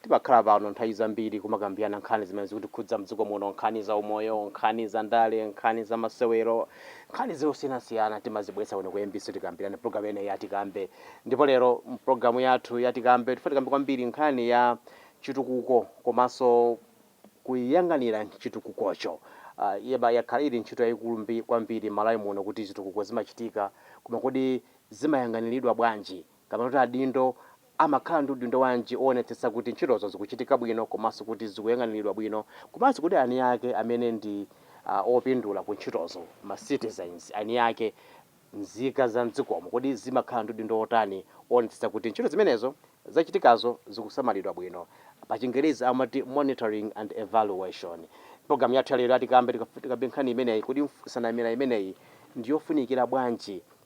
Timakhala pano nthawi zambiri kumakambirana nkhani zimene zikutikhudza m'dziko muno, nkhani za umoyo, nkhani za ndale, nkhani za masewero, nkhani zosiyanasiyana timazibweretsa kuno ku mbc kuti tikambirane programu imeneyi ya Tikambe. Ndipo lero mu programu yathu ya Tikambe tifuna tikambe kwambiri nkhani ya chitukuko komanso kuyang'anira chitukukocho. Ah, iyi yakhala ili ntchito yayikulu mbi- kwambiri m'Malawi muno kuti zitukuko zimachitika, koma kodi zimayang'aniridwa bwanji? kapena kuti adindo amakhala ndi udindo wanji owonetsetsa kuti ntchitozo zikuchitika bwino komanso kuti zikuyang'aniridwa bwino komanso kodi ani ake amene ndi opindula ku ntchitozo ma citizens ani ake nzika za mdzikomo kodi zimakhala ndi udindo otani owonetsetsa kuti ntchito zimenezo zachitikazo zikusamalidwa bwino pa chingerezi amati monitoring and evaluation. Program yathu ya lero ya Tikambe tikambe nkhani imeneyi kodi mf sanamira imeneyi ndi yofunikira bwanji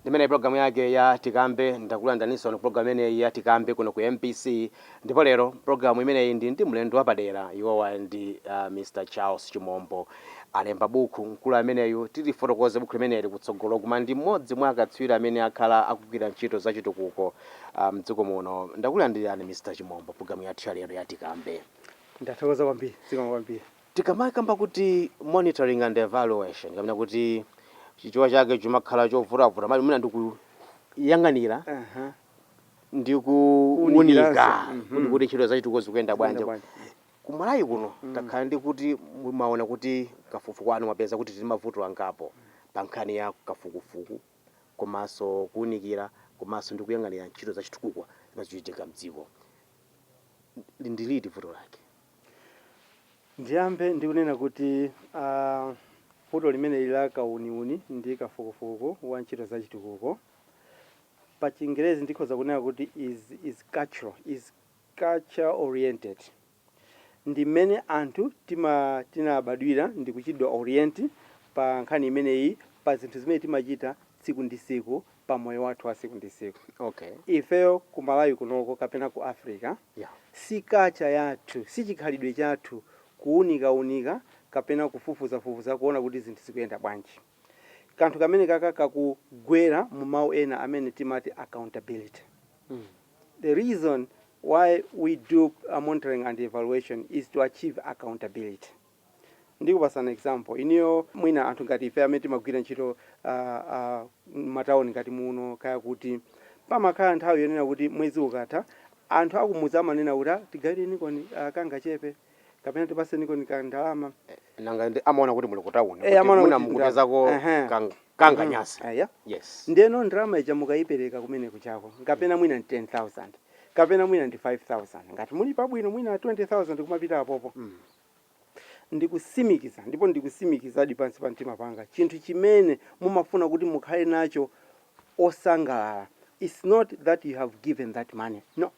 Ndi imeneyi program yake ya tikambe ndakulandiraninso pano program imeneyi ya tikambe kuno ku mbc ndipo lero program imeneyi ndili ndi mlendo wapadera iwowa ndi uh, Mr Charles Chimombo alemba buku mkulu ameneyu tilifotokoze buku limeneli kutsogolo koma ndi mmodzi mwa akatswiri amene akhala akugwira ntchito za chitukuko uh, mdziko muno ndakulandirani Mr Chimombo program yathu ya lero ya tikambe Ndathokoza kwambiri, zikomo kwambiri. Tikamakamba kuti monitoring and evaluation kapena kuti chichewa chake chimakhala chovutavuta komabe mwina ndi kuyang'anira ndi kuwunika kuti kuti ntchito za chitukuko zikuyenda bwanji. Ku Malawi kuno takhala ndi kuti mwaona kuti kafukufuku wanu mwapeza kuti tili ndi mavuto angapo pa nkhani ya kafukufuku komanso kuwunikira komanso ndi kuyang'anira ntchito za chitukuko zimene zikuchitika m'dziko. Ndi liti vuto lake? Ndiyambe ndi kunena kuti a, vuto limeneli la kauniuni ndi kafukufuku wa ntchito za chitukuko, pa chingerezi ndikhoza kunena kuti is is cultural, is culture oriented. Ndi mmene anthu tima, tinabadwira ndi kuchitidwa orient pa nkhani imeneyi pa zinthu zimene timachita tsiku ndi tsiku pa moyo wathu wa tsiku ndi tsiku. Okay. Ifeyo ku Malawi kunoko kapena ku Africa yeah. si kacha yathu si chikhalidwe chathu kuunikaunika kapena kufufuzafufuza kuona kuti zinthu zikuyenda bwanji. Kanthu kamene kaka kakugwera mu mawu ena amene timati accountability. Mm. The reason why we do a monitoring and evaluation is to achieve accountability. Ndikupasani example inuyo mwina anthu ngati ife amene timagwira ntchito mmatauni ngati muno kaya kuti, pamakhala nthawi yonena kuti mwezi ukatha anthu akumudzi amanena kuti aa tigawirenikoni kangachepe kapena tipasenikoni ka ndalama. Nanga si amaona kuti muli kutauni Eh kuti amaona mwina kuti ndalama mukupezako ehe kang- mhm kanganyansi. eya Yes. ndeno ndalama ija mukayipereka kumene kujako kapena mwina ndi 10,000 kapena mwina ndi 5,000 ngati muli pabwino mwina 20,000 kumapita apopo. Ndikutsimikiza, ndipo ndikutsimikizadi pansi pa mtima panga, chinthu chimene mumafuna kuti mukhale nacho osangalala its not that you have given that money, no,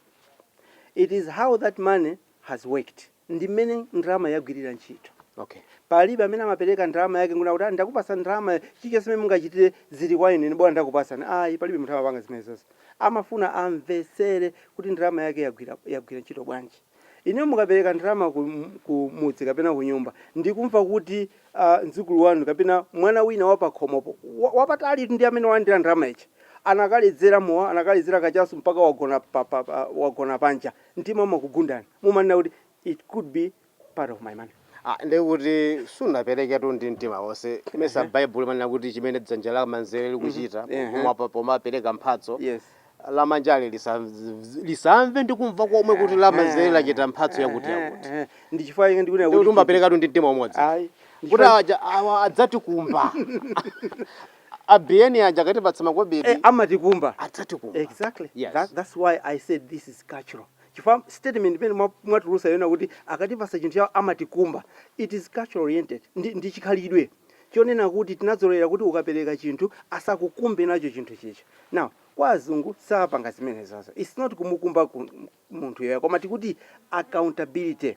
it is how that money has worked, ndi mmene ndalamayo yagwirira ntchito. Okay. Palibe amene amapereka ndalama yake nkunena kuti ah, ndakupatsani ndalamayo, chilichonse mmene mungachitire zili kwa inu, ine bola ndakupatsani. Ayi, palibe munthu amapanga zimenezozo. Amafuna amvetsere kuti ndalama yake yagwira, yagwira ntchito bwanji. Inuyo mukapereka ndalama ku, ku mudzi kapena kunyumba ndi kumva kuti a, mdzukulu wanu kapena mwana wina wa pakhomopo, wa, wapatali, ndi amene walandira ndalama ija, anakaledzera mowa, anakaledzera kachasu mpaka wagona pa, pa, pa, wagona panja, mtima umakugundani. Mumanena kuti, It could be part of my money. Ah, ndiye kuti sunapereketu ndi mtima wonse. Mesa Ehe. Baibulo limanena kuti chimene dzanja lamanzere Mhm. likuchita Ehe. pomwa- pomapereka mphatso, Yes. lamanjali lisamve lisamve ndi kumva komwe kuti lamanzere lachita mphatso yakuti yakuti nchifukwa chake ndikunena ndikuti kuti umaperekatu ndi mtima umodzi ayi ndi kuti chifukwa- aja awa adzatikumba abiyeni aja akatipatsa eh, makobidi amatikumba adzatikumba exactly Yes. that, that's why i said this is cultural chifukwa statement imene mwa- mwatulusa yonena kuti akatipasa chinthu chawo amatikumba it is cultural oriented ndi, ndi chikhalidwe chonena kuti tinadzolowera kuti ukapereka chinthu asakukumbe nacho chinthu chija now kwa azungu sapanga zimenezozo its not kumukumba ku, munthuyo ayi koma tikuti accountability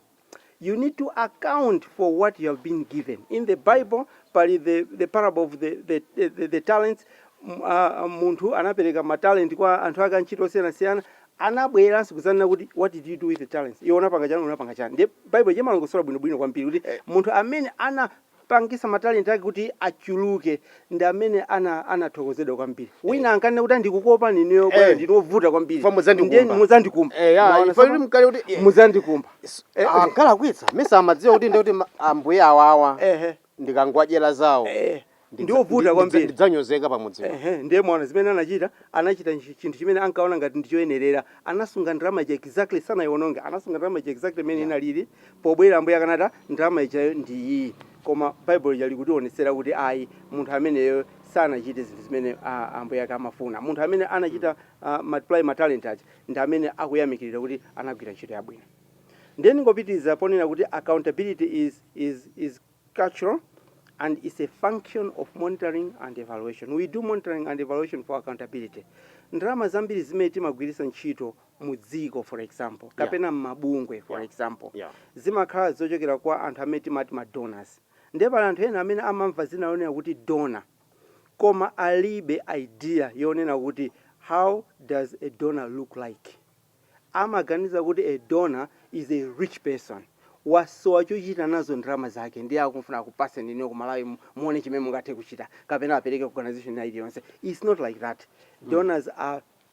you need to account for what you have been given in the bible pali the, the parable of the, the, the, the, the talents M- a- a- munthu anapereka matalenti kwa anthu ake antchito osiyanasiyana anabweranso kudzanena kuti what did you do with the talents iwe unapanga chani unapanga chani ndiye bible imalongosola bwinobwino kwambiri kuti munthu amene ana pangisa matalente ake kuti achuluke ndi amene ana anathokozedwa kwambiri wina ankanena kuti ndikukuopani inuyo bwana Eh. ndinu ovuta kwambiri Chifukwa mudzandikumba. Ndiye muzandikumba Eh, ya, Mwaona tsono? kuti mkale kuti- eh. muzandikumba Eh, ankalakwitsa mesa amadziwa kuti ndikuti ma- ambuye awawa ehe ndikangowadyera zawo eh ndidza- ndi ovuta ndidza- kwambiri ndidzanyozeka pamudzi Ehe, ndiye mwaona zimene anachita anachita nchi- chinthu chimene ankaona ngati ndichoyenerera anasunga ndalama ija exactly sanayiononge anasunga ndalama ija exactly imene inalili Pobwera Ambuye akanati, ah, ndalama ijayo ndi iyi. Koma Baibulo lija likutiwonetsera kuti ayi, munthu ameneyo sanachite zinthu zimene a, Ambuye ake amafuna. Munthu amene anachita a, multiply matalente aja ndi amene akuyamikiridwa kuti anagwira ntchito yabwino. Ndiye ndingopitiriza ponena kuti accountability is, is, is cultural and is a function of monitoring and evaluation. We do monitoring and evaluation for accountability. Ndalama zambiri zimene timagwiritsa ntchito mu dziko for example, Yeah. kapena m'mabungwe for Yeah. example, Yeah. zimakhala zochokera kwa anthu amene timati ma donors. Ndiye pali anthu ena amene amamva dzina lonena kuti donor, koma alibe idea yonena kuti how does a donor look like. Amaganiza kuti a donor is a rich person. Wasowa chochita nazo ndalama zake ndiye akufuna akupase ndinu ku Malawi mu- muone chimene mungathe kuchita kapena apereke ku organization ina iliyonse. It's not like that. Donors are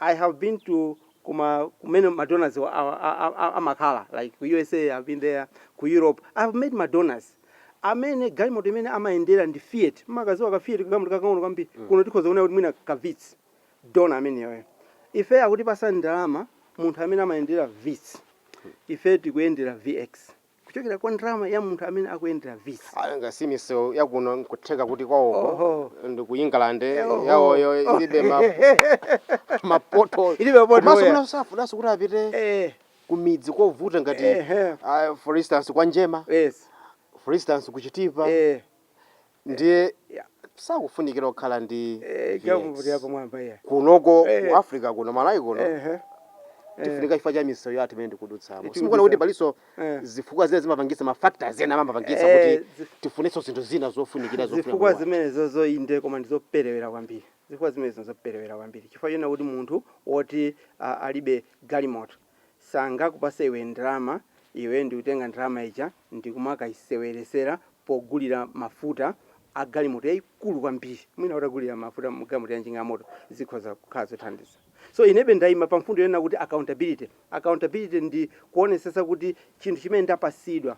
I have been to kuma kumene ma donors wa a, a, a, a, amakhala like ku usa i have been there ku europe i have met ma donors amene galimoto imene amayendera ndi fiat mumakadziwa ka fiat kagalimoto kakang'ono kwambiri kuno tikhoza kunena kuti mwina ka vits dona ameneyoyo ife akutipasa ndalama munthu amene amayendera vits ife tikuyendera vx kuchokera kwa ndalama ya munthu amene akuyendera vits Ah, nga si misewu yakuno nkutheka kuti kwawoko Oho. ndi ku england Oho. yawoyo ilibe ma- mapoto Ilibe mapoto, Komanso yeah. mwinanso safunanso kuti apite eh, kumidzi kovuta ngati Ehe. ah, for instance kwa njema yes for instance ku chitipa eh, ndiye sakufunikira kukhala ndi kunoko ku africa kuno malawi kuno tifunika chifukwa cha misewu yathu imene tikudutsamo simukuona kuti palinso zifukwa zina zimapangisa mafactors ena amapangisa kuti tifunenso zinthu zina zofunikira zifukwa zimenezo zoona koma ndizoperewera kwambiri zifukwa zimenezo zoperewera kwambiri chifukwa choti munthu woti alibe galimoto sangakupase iwe ndalama iwe ndikutenga ndalama ija ndikumakaiseweretsera pogulira mafuta a galimoto yaikulu kwambiri mwina utagulira mafuta mu galimoto ya njinga ya moto zikhoza kukhala zothandiza so inebe ndaima pa mfundo yonena kuti accountability accountability ndi kuonetsetsa kuti chinthu chimene ndapasidwa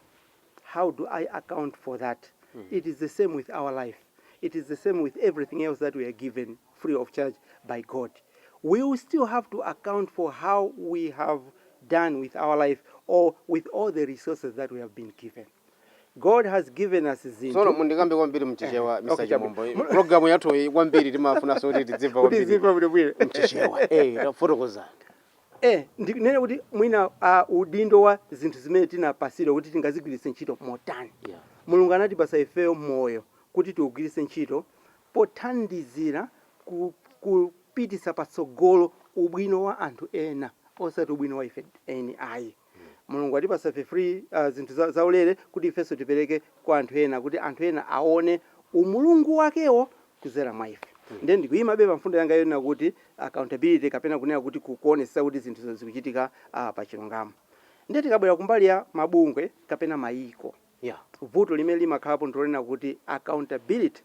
how do i account for that it is the same with our life it is the same with everything else that we are given free of charge by God. We will still have to account for how we have done with our life or with all the resources that we have been given. God has given us Tsono zinthu muzikamba kwambiri Eh, mchichewa okay, Mr. chabwino. Chimombo. Mu- Programu yathu iyi kwambiri timafunanso kuti tidzimva kwambiri timva bwinobwino. mchichewa. Eh, tafotokozani. Eh, ndinene kuti mwina ah, udindo wa zinthu zimene tinapasidwa kuti tingazigwiritse ntchito motani. Yeah. mulungu anatipasa ifeyo moyo kuti tiugwiritse ntchito pothandizira ku kupititsa patsogolo ubwino wa anthu ena osati ubwino wa ife eni ayi. Mulungu watipatsa ife free uh, zinthu za, zaulere kuti ifenso tipereke kwa anthu ena kuti anthu ena aone umulungu wakewo kuzera mwa ife ndiye ndikuyimabe pa mfundo yanga yonena kuti accountability kapena kunena kuti kuonetsetsa kuti zinthu zikuchitika uh, pa chilungamo ndiye tikabwera kumbali ya mabungwe kapena mayiko Yeah. Vuto limene limakhalapo ndilonena kuti accountability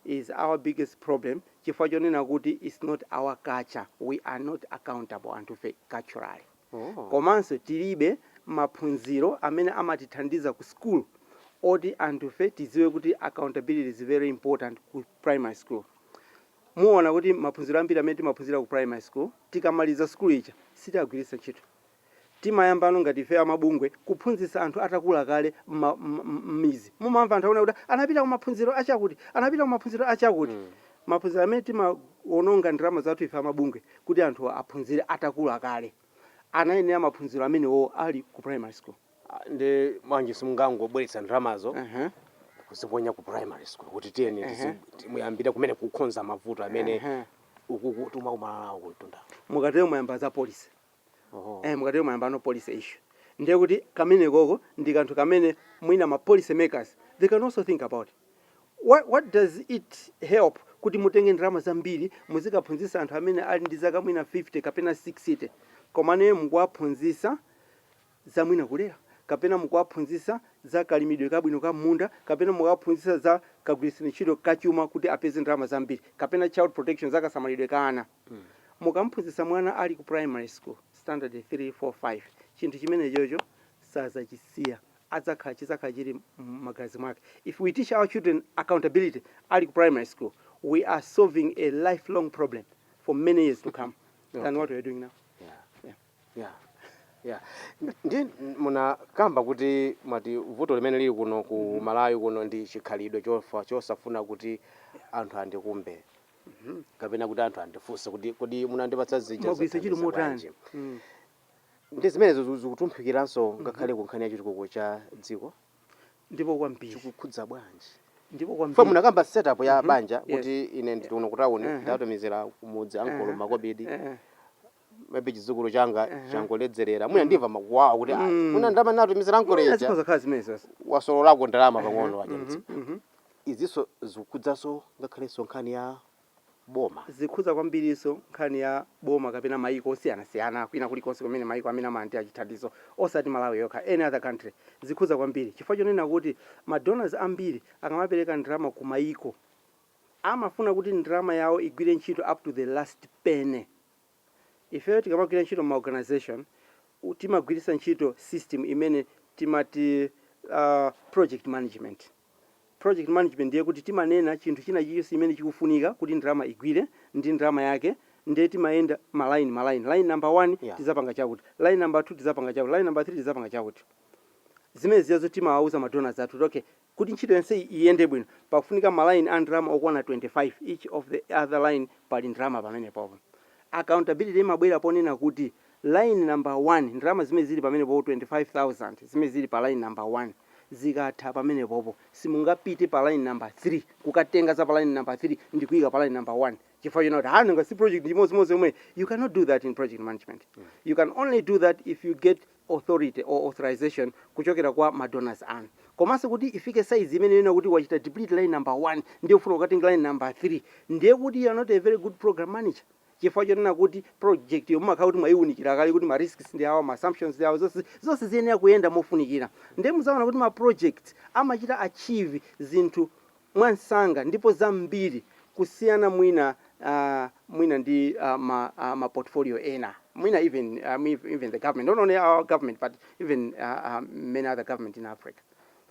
is our biggest problem chifukwa chonena kuti it's not our culture, we are not accountable anthufe culturally. Oh. Komanso tilibe maphunziro amene amatithandiza ku school oti anthufe tidziwe kuti accountability is very important ku primary school. Muwona kuti maphunziro ambiri amene timaphunzira ku primary school tikamaliza school ija sitiagwiritsa ntchito. Timayambano ngati ifeyo amabungwe kuphunzitsa anthu atakula kale mmidzi mumamva anthu akunena kuti anapita kumaphunziro achakuti anapita kumaphunziro achakuti maphunziro amene timawonongera ndalama zathu ife amabungwe kuti anthuwa aphunzire atakula kale anayenera maphunziro amenewowo ali ku primary school. Nde bwanji simungangobweretsa ndalamazo kuziponya ku primary school kuti tiyeni muyambire kumene kukhonza mavuto amene ukuku timakumana nawo kumtundaku. Mukatero mwayamba za policy. Oh. eh, mukatero mwayambano policy issue ndiye kuti kamenekoko ndi kanthu kamene mwina ma policy makers they can also think about what, what does it help kuti mutenge ndalama zambiri muzikaphunzitsa anthu amene ali ndi zaka mwina 50 kapena 60 komano mukuwaphunzitsa za mwina kulera kapena mukuwaphunzitsa za kalimidwe kabwino ka m'munda kapena mukuwaphunzitsa za kagwiritsidwe ntchito kachuma kuti apeze ndalama zambiri kapena child protection za kasamalidwe ka ana Mukamphunzitsa mwana ali ku primary school, standard 3, 4, 5, chinthu chimenechocho sadzachisiya, adzakhala, chidzakhala chiri mmagazi mwake. If we teach our children accountability ali ku primary school, we are solving a life long problem for many years to come than okay. what we are doing now. Yeah. Yeah. Yeah. Yeah. Ndi munakamba kuti munati vuto limene lili kuno ku mm-hmm. Malawi kuno ndi chikhalidwe chosafuna kuti anthu andikumbe. Mhm. kapena kuti anthu andifunse kuti kodi munandipatsa zija Mwagwiritsa ntchito zathandiza motani? bwanji? Mm. ndi zimenezo ziku- zikutumphukiranso ngakhale ku nkhani ya chitukuko cha dziko ndipo kwambiri chikukhudza bwanji ndipo fo kwambiri munakamba setup ya banja Yes. kuti ine ndikuno kutawuni ndatumizira kumudzi ankolo makobidi Eh, maybe chidzukulu changa Ehe. changoledzerera mwina ndimva makuwawa kuti "Ah, Mm. mwina ndalama natumizira Mwina nkoleja zikhoza khala zimene zonse wasololako ndalama pang'ono wachotsa izinso zikhudzanso ngakhalenso nkhani ya boma zikhudza kwambiriso nkhani ya boma kapena mayiko osiyanasiyana kwina kulikonse kumene mayiko amene amalandira chithandizo osati malawi yokha any other country zikhudza kwambiri chifukwa chonena kuti madonors ambiri akamapereka ndalama ku mayiko amafuna kuti ndalama yawo igwire ntchito up to the last penny Ifeyo tikamagwira ntchito m'ma organisation timagwiritsa ntchito system imene timati project management. Project management ndiye kuti timanena chinthu china chilichonse chimene chikufunika kuti ndalama igwire ndi ndalama yake nde timayenda ma line ma line, line number 1 Yeah. tizapanga chakuti, line number 2 tizapanga chakuti, line number 3 tizapanga chakuti. Zimenezija zo timawauza ma donors athu kuti okay Kuti ntchito yonseyi iyende bwino pakufunika ma line a ndalama okwana 25, each of the other line pali ndalama pamenepopo. Accountability imabwera ponena kuti line number 1 ndalama zimene zili pamenepopo 25,000 zimene zili pa line number 1 zikatha pamenepopo simungapite pa line number 3 kukatenga za pa line number 3 ndikuika pa line number 1 chifukwa chonena kuti ha nanga si project ndi imodzimodzi yomweyi, you cannot do that in project management. You can only do that if you get authority or authorization kuchokera kwa ma donors anu. Komanso kuti ifike size imeneyo yonena kuti wachita deplete line number 1 ndiye ufuna kukatenga line number 3 ndiye kuti you are not a very good program manager chifukwa chonena kuti project yo mumakhala kuti mwayiwunikira kale kuti ma risks ndi awa ma assumptions ndi awa zonse zonse ziyenera kuyenda mofunikira ndiye muzaona kuti ma projects amachita achieve zinthu mwansanga ndipo zambiri kusiyana mwina a mwina ndi a ma a ma portfolio ena mwina even a mi even the government not only our government but even a a many other government in Africa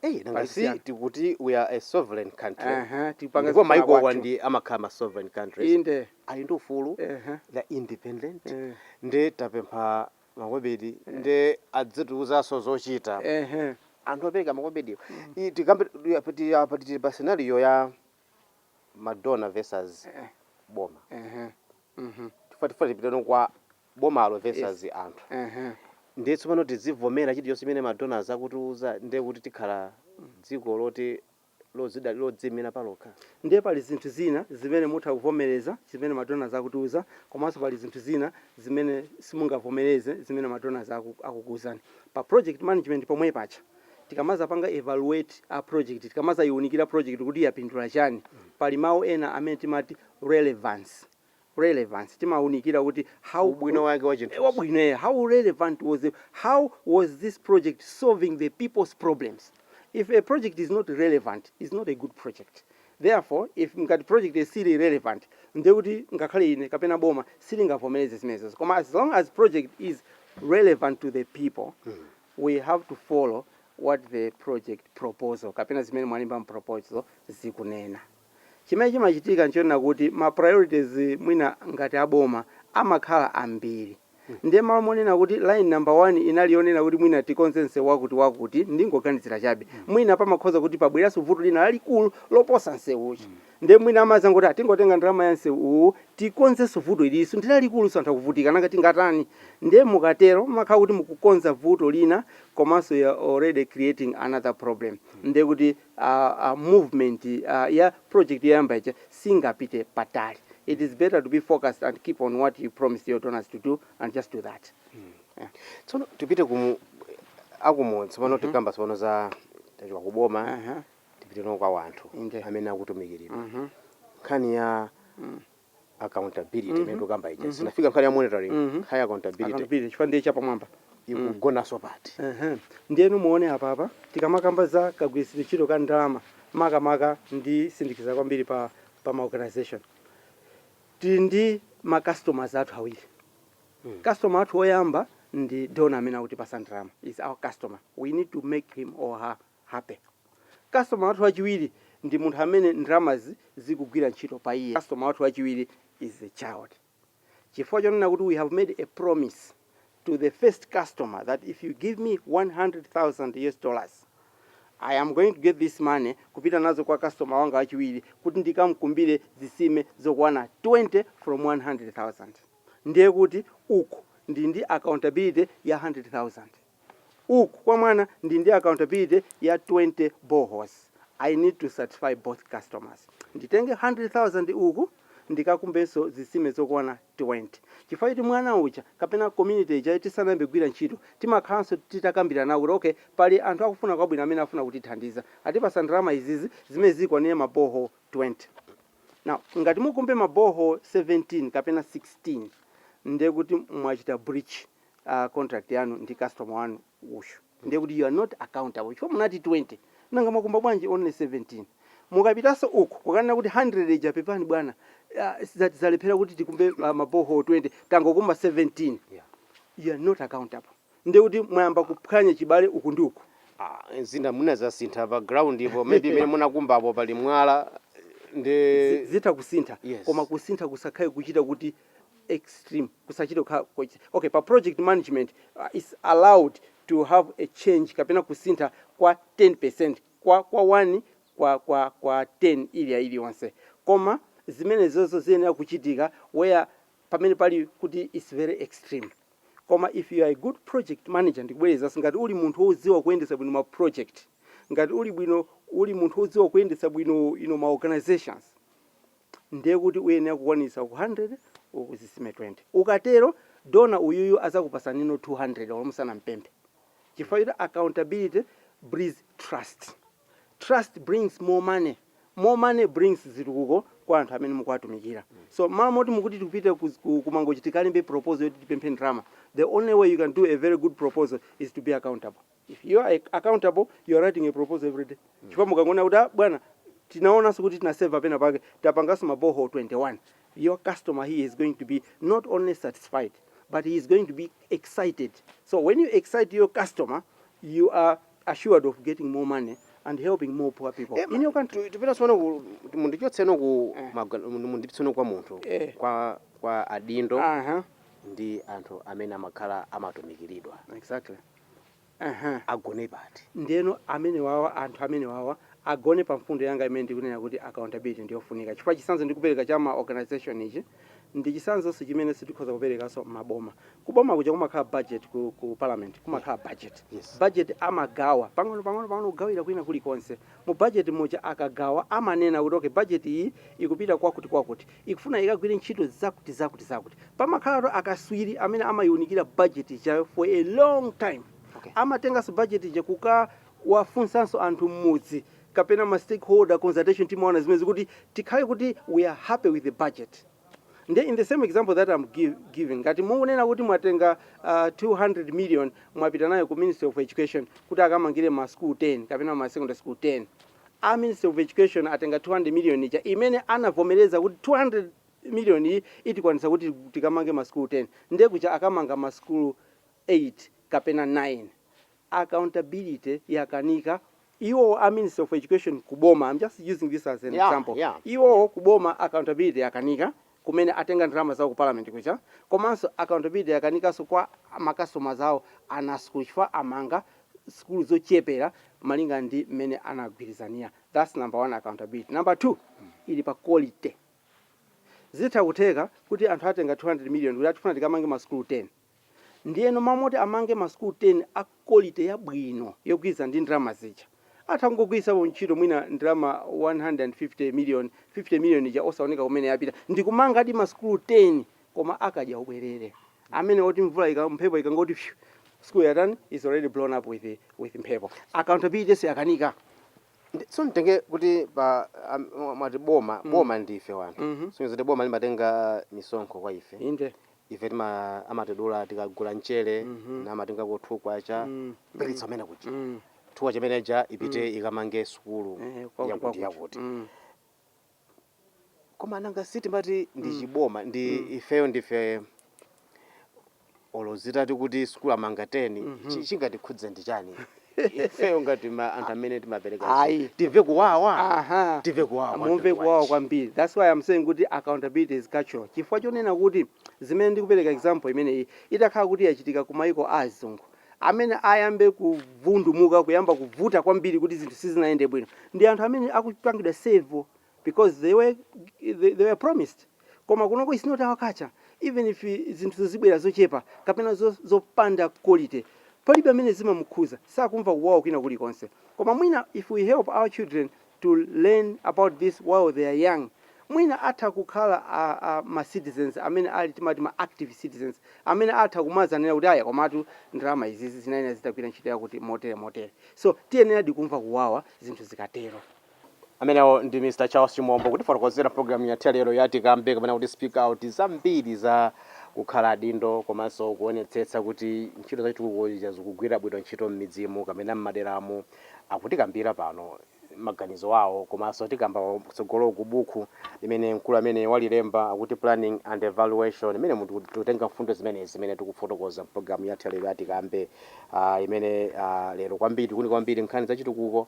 eyi nanga si tikuti we are a sovereign country aha tipanga ndipo maiko wa kwathu. ndi amakhala ma sovereign countries inde ali ndi ufulu aha the independent eh nde tapempha makobidi nde adzitiuzanso zochita ehe anthu opereka makobidiwo I- tikambe pati tili pa scenario ya ma donor versus Eh. boma ehe mhm tifuna tifuna tipitano kwa bomalo versus anthu ehe ndiye tsopano tizivomera chilichonse chimene ma donors akutiuza ndiye kuti tikhala dziko loti lodzidalira, lodziimira palokha. Ndiye pali zinthu zina zimene mutha kuvomereza zimene ma donors akutiuza komanso pali zinthu zina zimene simungavomereze zimene ma donors akukuuzani. Pa project management pomwe paja tikamadzapanga evaluate a project, tikamadzaiunikira project kuti yapindula chani, pali mau ena amene timati relevance. relevance timaunikira kuti how ubwino wake wa chinthu ubwino eh, how relevant was it? how was this project solving the people's problems if a project is not relevant is not a good project therefore if ngati project isili relevant ndiye kuti ngakhale ine kapena boma silingavomereze zimenezo koma as long as project is relevant to the people mm. we have to follow what the project proposal kapena zimene mwalemba mproposal zikunena Chimene chimachitika nchonena kuti ma priorities mwina ngati a boma amakhala ambiri ndiye mmalo monena kuti line number one inali yonena kuti mwina tikonze msewu wakuti wakuti, ndikungoganizira chabe, mwina pamakhoza kuti pabweranso vuto lina lalikulu loposa msewu uja ndiye mwina amadzangoti ah tingotenga ndalama ya msewu uwu tikonzenso vuto ililinso ndi lalikulunso anthu akuvutika nanga tingatani ndiye mukatero mmakhala kuti mukukonza vuto lina komanso you're already creating another problem ndiye kuti a, a movement a, ya project yoyamba ija singapite patali. It is better to be focused and keep on what you promised your donors to do and just do that. Yeah. tsono tipite ku akumudzi tsopano tikamba tsopano za zachoka ku boma Uh-huh. tipite tsono kwa wanthu Inde. amene akutumikiridwa Mhm. nkhani ya accountability imene tikukamba ija sinafika nkhani ya monitoring nkhani ya accountability Accountability, chifukwa ndiye chapamwamba ikugonanso pati Ehe. ndiyeno muone apapa tikamakamba za kagwiritsidwe ntchito ka ndalama makamaka nditsindikiza kwambiri pa, pa ma organization tili ndi ma customers athu awiri customer athu oyamba ndi dona amene akutipatsa ndalama is our customer we need to make him or her happy. Customer wathu wachiwiri ndi munthu amene ndalamazi zikugwira ntchito pa iye. Customer wathu wachiwiri is the child. Chifukwa chonena kuti we have made a promise to the first customer that if you give me 100,000 US dollars, I am going to get this money kupita nazo kwa customer wanga wachiwiri kuti ndikamkumbire zitsime zokwana 20 from 100,000. Ndiye kuti uku ndili ndi accountability ya 100,000. uku kwa mwana ndili ndi accountability ya 20 boreholes i need to satisfy both customers nditenge 100,000 uku ndikakumbenso zitsime zokwana 20 chifukwa choti mwana uja kapena community ija tisanayambe kugwira ntchito timakhalanso titakambirana kuti okay pali anthu akufuna kwabwino amene afuna kutithandiza atipatsa ndalama izizi zimene zikwanire ma borehole 20 now ngati mukumbe ma borehole 17 kapena 16 ndekuti mwachita breach a contract yanu ndi customer wanu uyu ndiye kuti you are not accountable chifukwa munati 20 nanga mwakumba bwanji only 17 mukapitanso uku kukanena kuti 100 ija apepani bwana ah, za- zalephera kuti tikumbe ah, maboho 20 tangokumba 17 Yeah. you are not accountable ndiye kuti mwayamba kuphwanya chibale uku ndi uku Ah, zinthu mwina zasintha pa ground ipo maybe imene munakumba apo pali mwala ndi Zi- zitha kusintha Yes. koma kusintha kusakhale kuchita kuti extreme kusachita kukhala kochita okay pa project management uh, is allowed to have a change kapena kusintha kwa 10% kwa kwa 1 kwa kwa kwa 10 iliyonse iliyonse koma zimenezozo ziyenera kuchitika where pamene pali kuti it's very extreme koma if you are a good project manager ndikubwerezanso ngati uli munthu wodziwa kuyendetsa bwino ma project ngati uli bwino uli munthu wodziwa kuyendetsa bwino you know, ma organizations ndiye kuti uyenera kukwaniritsa 100 uku zisime 20 ukatero donor uyuyu azakupasaninso 200 olo musanampemphe chifukwa choti accountability breeds trust, trust brings more money, more money brings zitukuko kwa anthu amene mukuwatumikira so mmalo moti mukuti tikupita ku mangochi tikalembe proposal yoti tipemphe ndalama the only way you can do a very good proposal is to be accountable. If you are accountable you are writing a proposal every day chifukwa mukangonena kuti ah bwana tinaonanso kuti tinaseva pena pake tapanganso maboho 21 your customer here is going to be not only satisfied but he is going to be excited so when you excite your customer you are assured of getting more money and helping more poor people in your country Tu- tipita tsopano ku- mundichotse no ku Eh. maga- mundipitse no kwa munthu Eh. kwa kwa adindo aha ndi anthu amene amakhala amatumikiridwa exactly Aha. agone pati ndeno amene wawa anthu amene wawa agone pa mfundo yanga imene ndikunena kuti accountability ndiyofunika chifukwa chisanzo ndikupereka cha ma organization ichi ndi chisanzonso chimenenso tikhoza kuperekanso maboma kuboma kuja kumakhala budget ku, ku parliament kumakhala budget Yes. budget amagawa pang'ono pang'ono pang'ono kugawira kwina kulikonse Mu budget muja akagawa amanena kuti okay budget iyi ikupita kwakuti kwakuti, ikufuna ikagwire ntchito zakuti zakuti zakuti. Pamakhalatu akaswiri amene amayiunikira budget ijayo for a long time. Okay. Amatenganso budget ija kukawafunsanso anthu mmudzi kapena ma stakeholder consultation timaona zimenezi kuti tikhale kuti we are happy with the budget. Ndiye in the same example that am giving ngati mukunena kuti mwatenga uh, ah, 200 million mwapita nayo ku Ministry of Education kuti akamangire ma school 10 kapena ma secondary school 10 a Ministry of Education atenga 200 million ija imene anavomereza kuti 200 million iyi itikwanisa kuti tikamange ma school 10 ndiye kuja akamanga ma school 8 kapena 9 accountability yakanika iwo a ministry of education ku boma am just using this as an yeah, example yeah, iwo yeah. ku boma accountability yakanika kumene atenga ndalama zawo ku parliament kuja komanso accountability yakanikanso kwa makasitomala awo ana a sukulu chifukwa amanga sukulu zochepera malinga ndi mmene anagwirizanira that's number one accountability number two ili pa quality zitha kutheka kuti anthu atenga 200 million kuti akufuna tikamange masukulu 10 Ndiyeno mmalo moti amange ma school 10 a quality yabwino yogwirizana ndi ndalama zija, atha kungogwiritsapo ntchito mwina ndalama 150 million, 50 million ija osaoneka kumene yapita, ndikumangadi ma school 10 koma a kadyaubwerere amene oti mvula ika, mphepo ikangoti pyu, school yatani, is already blown up with with mphepo. Accountability siyakanika. Ndi, so nditenge kuti pa, a, mwa- mwati boma, boma ndife wanthu. Sonyeza kuti boma limatenga misonkho kwa ife. Inde. ife tima amatidula tikagula mchere mm-hmm. n'kumatengako two kwacha mm. kupititsa kumene kuja mm. two kwacha imene ija ipite mm. ikamange sukulu eh, yakuti yakuti mm. koma nanga si timati ndi mm. chaboma ndi mm. ifeyo ndife olo zitati kuti sukulu amanga 10 mm -hmm. chingatikhudze ndi chani ifeyo ngati ma anthu amene timapereka Ayi. izi, timve kuwawa Aha. timve kuwawa kwa mumve mtundu kuwawa wanji. kwambiri thats why i'm saying kuti accountability is cultural chifukwa chonena kuti zimene ndikupereka example imeneyi itakhala kuti yachitika ku mayiko a azungu amene ayambe kuvundumuka kuyamba kuvuta kwambiri kuti zinthu sizinayende bwino ndi anthu amene akupangidwa serve because they were they, they were promised koma kunoko is not our culture even if zinthu zibwera zochepa kapena zo, zopanda quality palibe amene zimamukhuza sakumva kuwawa kwina kulikonse koma mwina if we help our children to learn about this while they are young mwina atha kukhala a, a, ma citizens amene ali timati ma active citizens amene atha kumazanena kuti aya komatu ndalama izizi zinayenera zitagwira ntchito yakuti motere motere so tiyeneradi kumva kuwawa zinthu zikatero Amenewo ndi Mr Charles Chimombo kutifotokozera program yathu ya lero ya tikambe kapena kuti speak out zambiri za kukhala adindo komanso kuonetsetsa kuti ntchito za chitukuko zija zikugwira bwino ntchito m'midzimu kapena m'maderamu. Akutikambira pano maganizo awo komanso tikamba kutsogoloku buku limene mkulu ameneyu walilemba akuti planning and evaluation m'mene muno tikutenga mfundo zimenezi zimene tikufotokoza program yathu ya lero ya tikambe ah, imene ah, lero kwambiri ikuunika kwambiri nkhani za chitukuko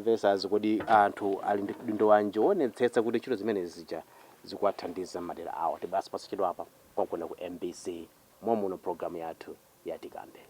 vs. Kodi anthu ali ndi udindo wanji woonetsetsa kuti ntchito zimene zija zikuwathandiza m'madera awo? Tibweranso posachedwapa konkuno ku mbc mom'muno m'pulogalamu yathu ya Tikambe.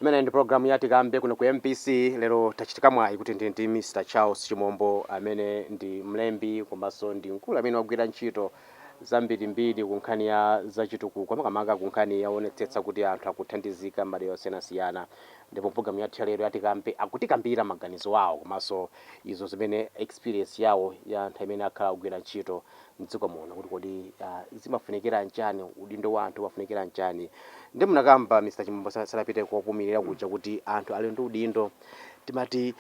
Imeneyi ndi program ya Tikambe kuno ku mbc. Lero tachitika mwayi kuti ndili ndi Mr Charles Chimombo amene ndi mlembi komanso ndi mkulu amene wagwira ntchito zambirimbiri ku nkhani ya zachitukuko makamaka ku nkhani yoonetsetsa kuti anthu akuthandizika m'madera osiyanasiyana. Ndipo mu program yathu ya lero ya Tikambe akutikambira maganizo awo komanso izo zimene experience yawo ya nthawi imene akhala akugwira ntchito mdziko muno kuti kodi zimafunikira nchani, udindo wa anthu umafunikira nchani nde munakamba Mr Chimombo sanapite kopumilira kuja kuti anthu ali ndi udindo timati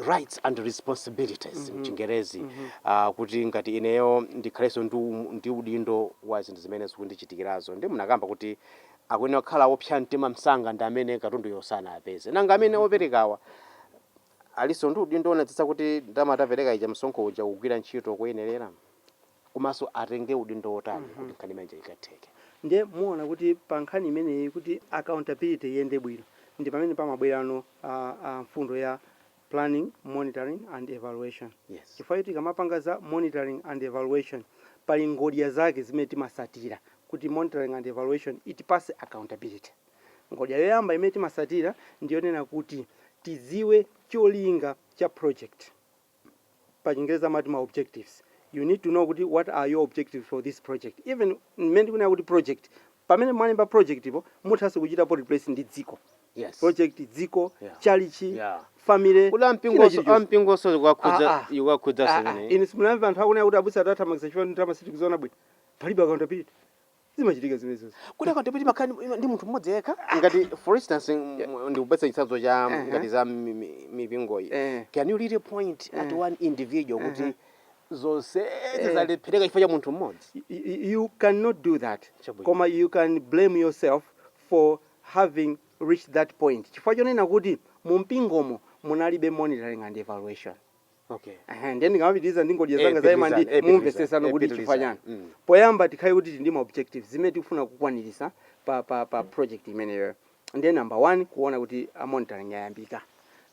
rights and responsibilities mchingerezi mm -hmm. uh, kuti ngati ineyo ndikhalenso ndi, ndi udindo wa zinthu zimene zikundichitikirazo nde munakamba kuti akuyenera kukhala opsa mtima msanga ndi amene katunduyo sanaapeze nanga amene operekawa Alinso ndi udindo wonetsetsa kuti ndalama tapereka ija, msonkho uja, ukugwira ntchito koyenerera komanso atenge udindo wotani kuti nkhani imeneyi ikatheke. Ndiye muona kuti pa nkhani imeneyi kuti accountability iyende bwino ndi pamene pamabwerano mfundo ya Planning, Monitoring and Evaluation chifukwa choti tikamapanga za monitoring and evaluation pali ngodya zake zimene timatsatira kuti monitoring and evaluation itipatse accountability. Ngodya yoyamba imene timasatira ndi yonena kuti tidziwe cholinga cha project, pa chingerezi timati ma objectives, you need to know kuti what are your objectives for this project, even mmene tikunena kuti project, pamene mwalemba project-po muthanso kuchitapo replace ndi dziko, Yes. project, dziko, Yeah. chalichi, Yeah. family, Kodi ampingo china onse- chilichonse. ampingo onse zikuwakhudza- Ah, ah. zikuwakhudza Ah, ah. zimeneyi? Inu simunamve anthu akunena kuti abusa atathamangitsa chifukwa ndalama sitikuziona bwino. Palibe accountability. zimachitika zimenezo kuti akaunti yopiti makhala ndi- ndi munthu mmodzi yekha ngati for instance m- ndikupatsa chitsanzo cha Uh-huh. ngati za mi- mi- mipingoyi Eh. can you really point at one individual kuti zonse zalephereka chifukwa cha munthu mmodzi Y- y- you cannot do that Chabwino. koma you can blame yourself for having reached that point chifukwa chonena kuti mu mpingomo munalibe monitoring and evaluation Okay. Aha, ndiye ndikamapitiriza ndi ngodya Eh, zanga za imandi pitirizani, eh, mumvetsesano pitirizani, kuti eh, chifukwa chani pitirizani. Mm. poyamba tikhale kuti tili ndi ma objectives zimene tikufuna kukwanirisa pa, pa, pa project imeneyo ndiye number one kuona kuti a monitoring ayambika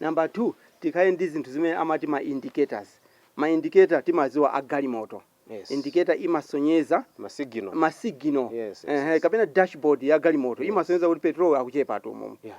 number two tikhale ndi zinthu zimene amati ma indicators ma indicator timaziwa a galimoto Yes. indicator imasonyeza Masigino. masigino Yes, yes, Ehe, yes. kapena dashboard ya galimoto imasonyeza kuti petrol akuchepatu mumu Yeah.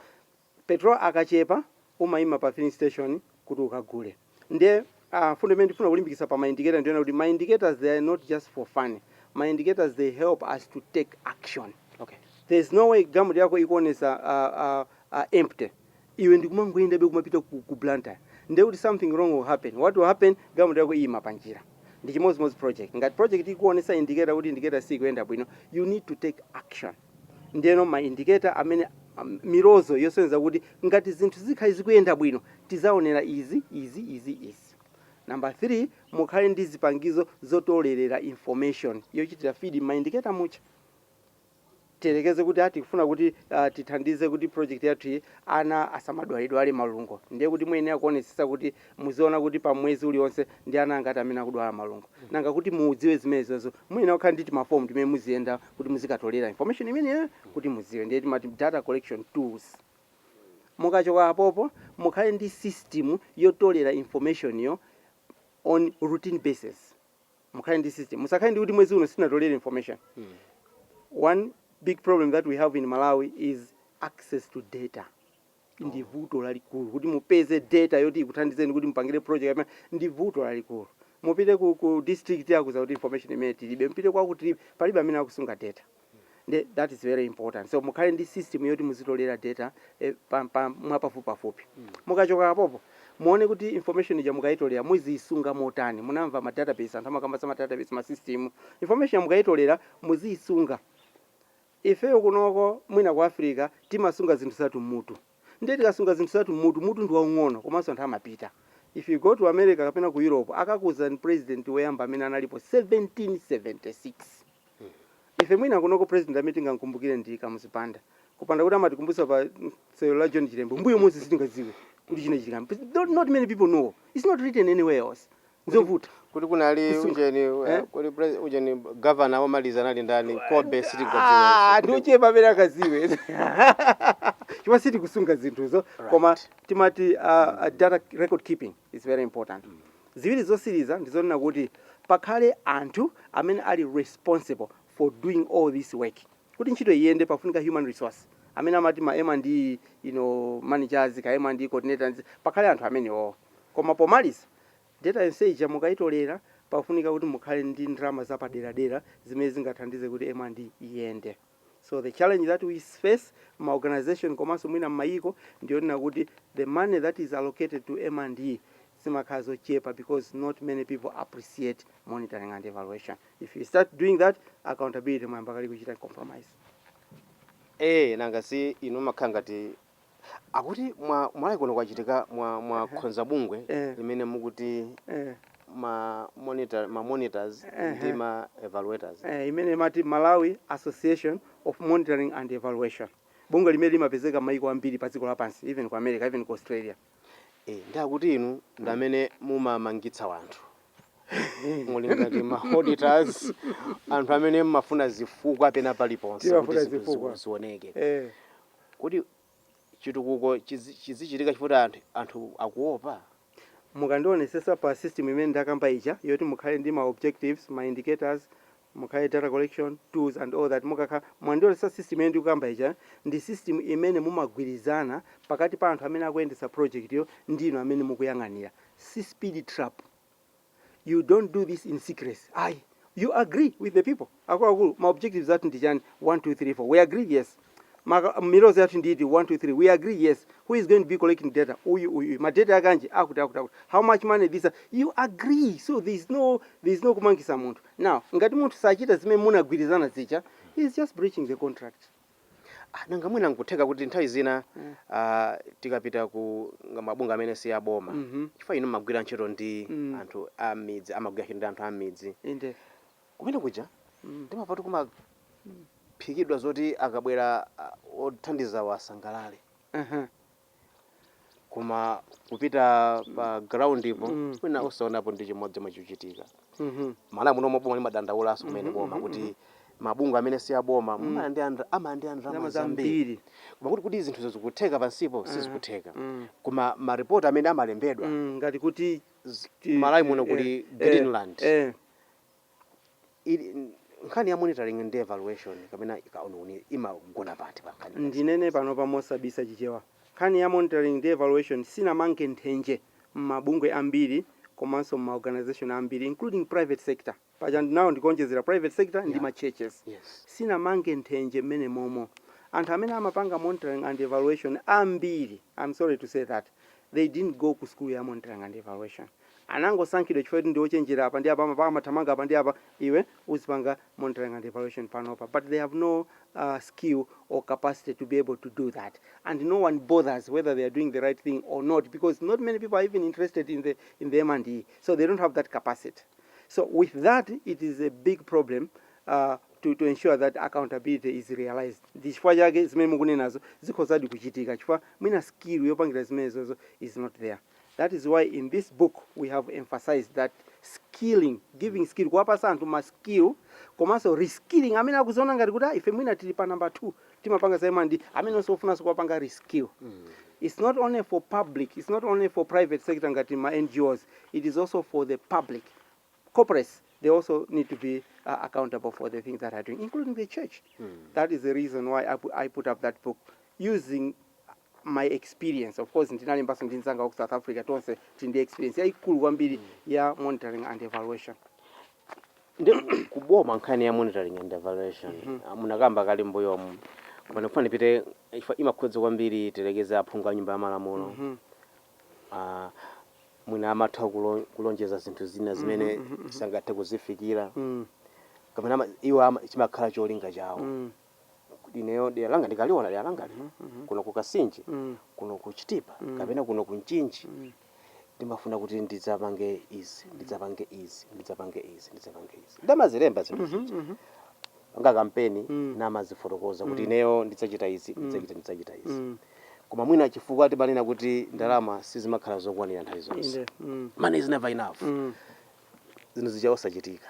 Petrol akachepa umayima pa filling station kuti ukagule. Ndiye a mfundo imene ndifuna kulimbikitsa pa ma indicator ndiyonena kuti ma indicators they are not just for fun, ma indicators they help us to take action. Okay. There is no way galmoti yako ikuonetsa a a a empty iwe ndikumangoyendabe kumapita ku, ku Blantyre ndiye kuti something wrong will happen. What will happen? Galmoti yako iyima pa njira. Ndi chimodzimodzi project. Ngati project ikuonetsa indicator kuti indicator siyikuyenda bwino, you need to take action. Ndiyeno ma indicator amene, milozo yosonyeza kuti ngati zinthu zikhale zikuyenda bwino tidzaonera izi, izi, izi, izi. Number 3, mukhale ndi zipangizo zotolerera information yochitira feed m'ma indicator muja. Tiyerekeze kuti a tikufuna kuti ah, tithandize kuti project yathu iyi ana asamadwaledwale malungo. Ndiye kuti muyenera kuonetsetsa kuti Muziona kuti pa mwezi ulionse ndi ana angati amene akudwala malungo. Nanga kuti mudziwe zimenezo muyenera kukhala ndi timafomu timene muziyenda kuti muzikatolera information imeneyo kuti mudziwe. Ndiye timati data collection tools. Mukachoka apopo mukhale ndi system yotolera information yo on routine basis. Mukhale ndi system. Musakhale ndi kuti mwezi uno sitinatolere information. One big problem that we have in Malawi is access to data. ndi vuto lalikulu kuti mupeze data yoti ikuthandizeni kuti mupangire project kapena ndi vuto lalikulu mupite ku, ku district akuuzani kuti information imene tilibe mupite kwaku tilibe palibe amene akusunga data Nde, that is very important so mukhale ndi system yoti muzitolera data eh, pa, pa, mwapafupipafupi mukachoka apopo muone kuti information ija mukayitolera muziyisunga motani munamva ma database anthu amakamba za ma database ma system information ija mukayitolera muziyisunga Ifeyo kunoko mwina ku Africa timasunga zinthu zathu mmutu ndiye tikasunga zinthu zathu mmutu, mutu ndi waung'ono komanso anthu amapita. If you go to America kapena ku Europe akakuuzani president woyamba amene analipo 1776. Ife mwina kunoko president amene tingamkumbukire ndi Kamuzu Banda kupanda kuti amatikumbutsa pa sewero la John Chilembwe mmbuyo monse sitingadziwe kuti china chilichonse. Not many people know, it's not written anywhere else. Nzovuta. Kuti kunali Kusuka. ujeni eh, Eh? kuti pres- ujeni governor omaliza anali ndani kobe sitikudziwa Ah, ndi ochepa amene akudziwa chifukwa sitikusunga zinthuzo koma timati uh, uh, data record keeping is very important ziwiri zotsiriza ndizonena kuti pakhale anthu amene ali responsible for doing all this work kuti ntchito iyende pafunika human resource amene amati ma M and E, you know, managers kaya M and E coordinators pakhale anthu amenewo koma pomaliza Data yonse ija mukaitolera, pafunika kuti mukhale ndi ndalama zapaderadera zimene zingathandize kuti M and E iyende. So the challenge that we face mma organization komanso mwina mmayiko ndiyonena kuti the money that is allocated to M and E zimakhala zochepa because not many people appreciate monitoring and evaluation. If you start doing that, accountability mwayamba kale kuchita compromise. Eee nanga si inu mmakhala ngati Akuti m'Malawi kuno kwachitika mwa- mwa Ehe. khonza bungwe Eh. limene mukuti Eh, ma monitor ma monitors Ehe. ndi ma evaluators. eh, imene imati Malawi Association of Monitoring and Evaluation. Bungwe limene limapezeka m'mayiko ambiri pa dziko lapansi, even ku America, even ku Australia. Eh, ndi akuti inu ndi amene mumamangitsa wanthu. Muli ngati ma auditors anthu amene mmafuna zifukwa pena paliponse kuti Timafuna zinthu zifukwa. zi- zioneke. Eh, Kodi chitukuko chizichitika chifukwa choti anthu akuopa? Mukandionesesa pa system imene ndikukamba ija yoti mukhale ndi ma objectives, ma indicators, mukhale data collection, tools and all that mukakhala mwandionesesa system imene ndikukamba ija ndi system imene mumagwirizana pakati pa anthu amene akuyendetsa project yo ndi inu amene mukuyang'anira. Si speed trap. you don't do this in secrecy ayi you agree with the people akuluakulu ma objectives athu ndi chani 1 2 3 4 we agree yes Maka- milozo yathu ndi iti 1 2 3 we agree yes who is going to be collecting data uyu uyu uyu. ma data yake anji akuti akuti akuti how much money this you agree so there is no there is no kumangisa munthu now ngati munthu sachita zimene munagwirizana zija he is just breaching the contract Ah, nanga mwina nkutheka kuti nthawi zina mm. ah, tikapita ku ma- mabungwe amene si aboma mm -hmm. chifukwa inu mmagwira ntchito ndi mm. anthu a mmidzi amagwira ntchito ndi anthu a mmidzi inde kumene kuja mm. timapatu kumaphikidwa zoti akabwera ah, othandizawa asangalale uh -huh. koma kupita pa ground po Mm. mwina osaonapo ndi chimodzi chomwe chikuchitika Mhm. Malawi muno boma limadandaulanso kumene Mhm, boma mhm, kuti mabungwe amene si aboma Mm. amalandira amalandira Ndalama zambirizambiri. koma kuti kuti zinthuzo zikutheka pansipo Aha. sizikutheka Mm. koma maripoti amene amalembedwa Mm, ngati kuti z- ti- Malawi muno eh, kuli eh, greenland eh, ili nkhani ya monitoring ndi evaluation kapena kauniuni imagona pati pa nkhani Ndinene panopa mosabisa chichewa, nkhani ya monitoring ndi evaluation sinamange nthenje mmabungwe ambiri komanso mma organisation ambiri including private sector, paja now ndikuonjezera private sector ndi ma churches, yes sinamange nthenje mmenemomo. Anthu amene amapanga monitoring and evaluation ambiri, am sorry to say that, they didn't go ku sukulu ya monitoring and evaluation. anangosankhidwa chifukwa choti ndiochenjera apa ndi apa amathamanga apa ndi apa iwe uzipanga monitoring and evaluation panopa but they have no uh, skill or capacity to be able to do that and no one bothers whether they are doing the right thing or not because not many people are even interested in the, in the M&E so they don't have that capacity so with that it is a big problem uh, to, to ensure that accountability is realized ndi chifukwa chake zimene mukunenazo zikhozadi kuchitika chifukwa mwina skill yopangira zimenezozo is not there That is why in this book we have emphasized that skilling, giving skill, kuwapasa anthu ma skill, komanso reskilling, amene akuziona ngati kuti ah, ife mwina tili pa number 2, timapanga za MND, amenenso ofunanso kuwapanga reskill. It's not only for public, it's not only for private sector ngati ma NGOs, it is also for the public. Corporates, they also need to be uh, accountable for the things that are doing, including the church. That is the reason why I, pu- I put up that book using my experience of course ndinalembanso ndi mzanga wa ku south africa tonse tili ndi experience yayikulu kwambiri ya monitoring and evaluation ndikugoma nkhani ya monitoring and evaluation Ah, munakamba kale mbuyomu koma ndikufuna ipite chifukwa imakhudza kwambiri tilekeze aphungu a nyumba ya malamulo Ah, mwina amatha kulo- kulonjeza zinthu zina zimene sangathe kuzifikira kapena ama- iwo ama- chimakhala cholinga chawo kuti ineyo dera langa ndikaliona dera langa lino kuno ku Kasinje kuno ku Chitipa kapena kuno ku Mchinji ndimafuna kuti ndidzapange izi ndidzapange izi ndidzapange izi ndidzapange izi n'kumazilemba zinthu zija pa kampeni namazifotokoza kuti ineyo ndidzachita izi ndidzachita ndidzachita izi koma mwina chifukwa timanena kuti ndalama sizimakhala zokwanira nthawi zonse Inde. Mm. money is never enough Mm. zinthu zija osachitika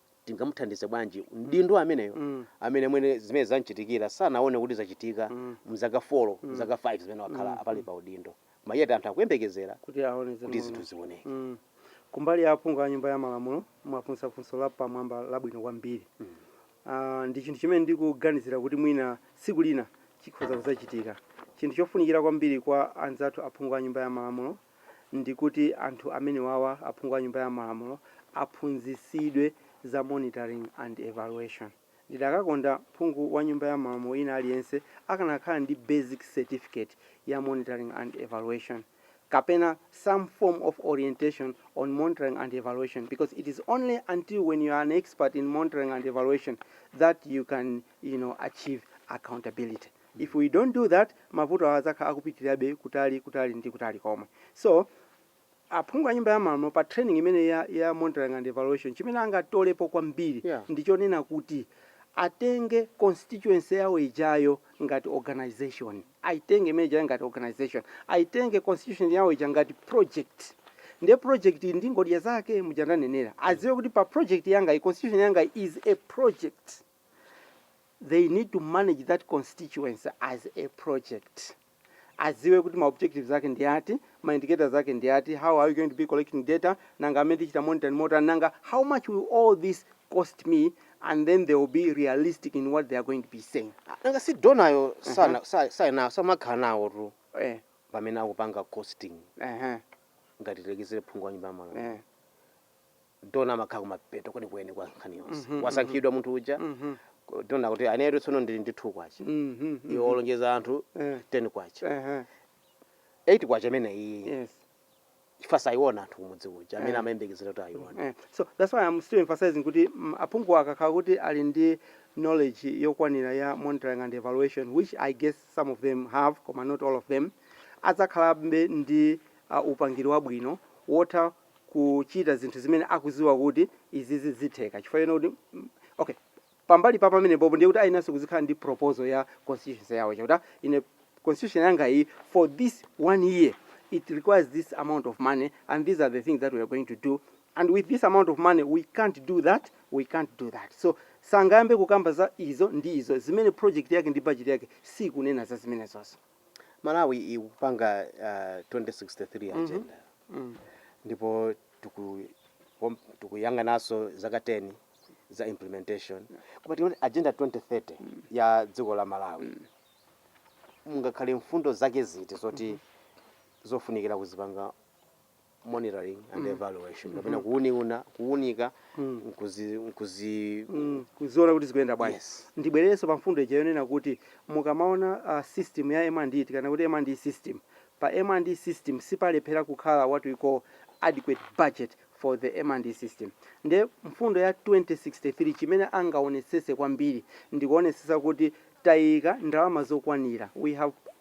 tingamuthandize bwanji mdindo ameneyo Mm. amene mwina zimene zamchitikira sanaone kuti zachitika Mm. mzaka 4 mzaka 5 zimene wakhala apali pa udindo koma yet anthu akuyembekezera kuti aone kuti zimene- zinthu zioneke Mm. kumbali ya aphungu a nyumba ya malamulo mwafunsa funso la pamwamba labwino kwambiri Mm. Ah, ndi chinthu chimene ndikuganizira kuti mwina tsiku lina chikhoza kuzachitika chinthu chofunikira kwambiri kwa anzathu aphungu a nyumba ya malamulo ndi kuti anthu amenewawa, aphungu a Nyumba ya Malamulo, aphunzitsidwe za monitoring and evaluation. Ndidakakonda phungu wa Nyumba ya Malamulo wina aliyense akanakhala ndi basic certificate ya monitoring and evaluation kapena some form of orientation on monitoring and evaluation because it is only until when you are an expert in monitoring and evaluation that you can you know, achieve accountability. if we don't do that mavuto awa adzakhala akupitirirabe kutali kutali ndi kutali komwe so aphungu a nyumba ya malamulo pa training imeneyi ya, ya monitoring and evaluation chimene angatolepo kwambiri Yeah. ndi chonena kuti atenge constituency yawo ijayo ngati organization aitenge imene ijayo ngati organization aitenge constituency yawo ija ngati project ndiye project iyi ndi ngodya zake muja ndanenera adziwe kuti pa project yanga iyi constituency yanga iyi is a project they need to manage that constituency as a project adziwe kuti ma objectives ake ndi ati ma indicators ake ndi ati how are we going to be collecting data nanga zimene tichita monitor ndi motani nanga how much will all this cost me and then they will be realistic in what they are going to be saying nanga si donayo sana sa- saina samakhala nawo tu eh, pamene akupanga costing eh, ngati tilekezere phungu wa nyumba ya malamulo eh. dona amakhala kumapeto kwenikweni kwa nkhani yonse Mhm, wasankhidwa munthu uja Mhm. ko- dona kuti inetu tsono ndili ndi 2 kwacha Mhm. iwo olonjeza anthu Eh. 10 kwacha Ehe. 8 kwacha imene iyi Yes. chifukwa sayiona anthu kumudzi uja amene Eh. amayembekezera kuti ayiona Eh, so that's why I'm still emphasizing kuti mm, aphungu akakhala kuti ali ndi knowledge yokwanira ya monitoring and evaluation which I guess some of them have koma not all of them adzakhalabe ndi uh, upangiri wabwino wotha kuchita zinthu zimene akudziwa kuti izizi zitheka chifukwa choona kuti okay pambali pa pamenepopo ndiye kuti ayeneranso kuti azikhala ndi proposal ya constitution yawo yakuti ine constitution yanga iyi for this one year it requires this amount of money and these are the things that we are going to do and with this amount of money we can't do that we can't do that so sangayambe kukamba za izo ndi izo zimene project yake ndi budget yake sikunena za zimenezozo Malawi ikupanga uh, 2063 agenda ndipo tikuwom- tikuyang'ananso zaka 10 za implementation koma tikuti agenda 2030 ya dziko la Malawi mungakhale mfundo zake ziti zoti zofunikira kuzipanga monitoring and evaluation kapena kuuni- kuunika nkuzi- nkuzi- Mm, kuziona kuti zikuyenda bwanji Yes. ndibwererenso pa mfundo ija yonena kuti mukamaona uh, system ya M&E tikanena kuti M&E system pa M&E system sipalephera kukhala what we call adequate budget for the M&E system nde mfundo ya 2063 chimene angaonetsetse kwambiri ndikuonetsetsa kuti tayika ndalama zokwanira we have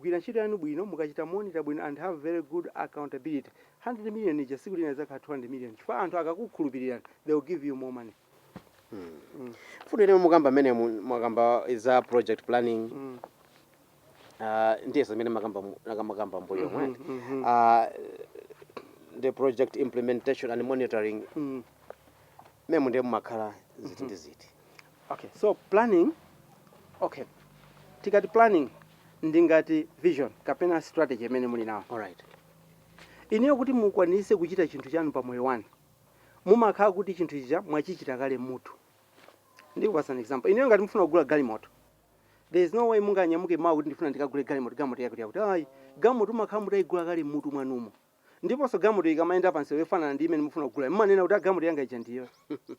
Gwirani ntchito yanu bwino mukachita monitor bwino and have very good accountability 100 million ija tsiku lina idzakhala 200 million chifukwa anthu akakukhulupirirani they will give you more money mm. Mfundo imene mukukamba m'menemu mwakamba za project planning mm. uh, ndiye zimene mwakamba mwakamba m'mbuyomu mm -hmm, mm -hmm. uh, the project implementation and monitoring mm. M'menemu ndiye mumakhala ziti ndi ziti? Okay, so planning, okay. Tikamati planning ndi ngati vision kapena strategy imene muli nayo. Alright. Inuyo kuti mukwanitse kuchita chinthu chanu pa moyo wanu, mumakhala kuti chinthu chija mwachichita kale m'mutu. Ndikupatsani an example. Inuyo ngati mufuna kugula galimoto, there is no way munganyamuke mawa kuti ndifuna ndikagule galimoto, galimoto yakuti yakuti. Ayi, galimoto mumakhala mutayigula kale m'mutu mwanumo. ndiponso galimoto ikamayenda pa msewu yofanana ndi imene mukufuna kugulayo mumanena kuti "Ah, galimoto yanga ija ndi iyoyo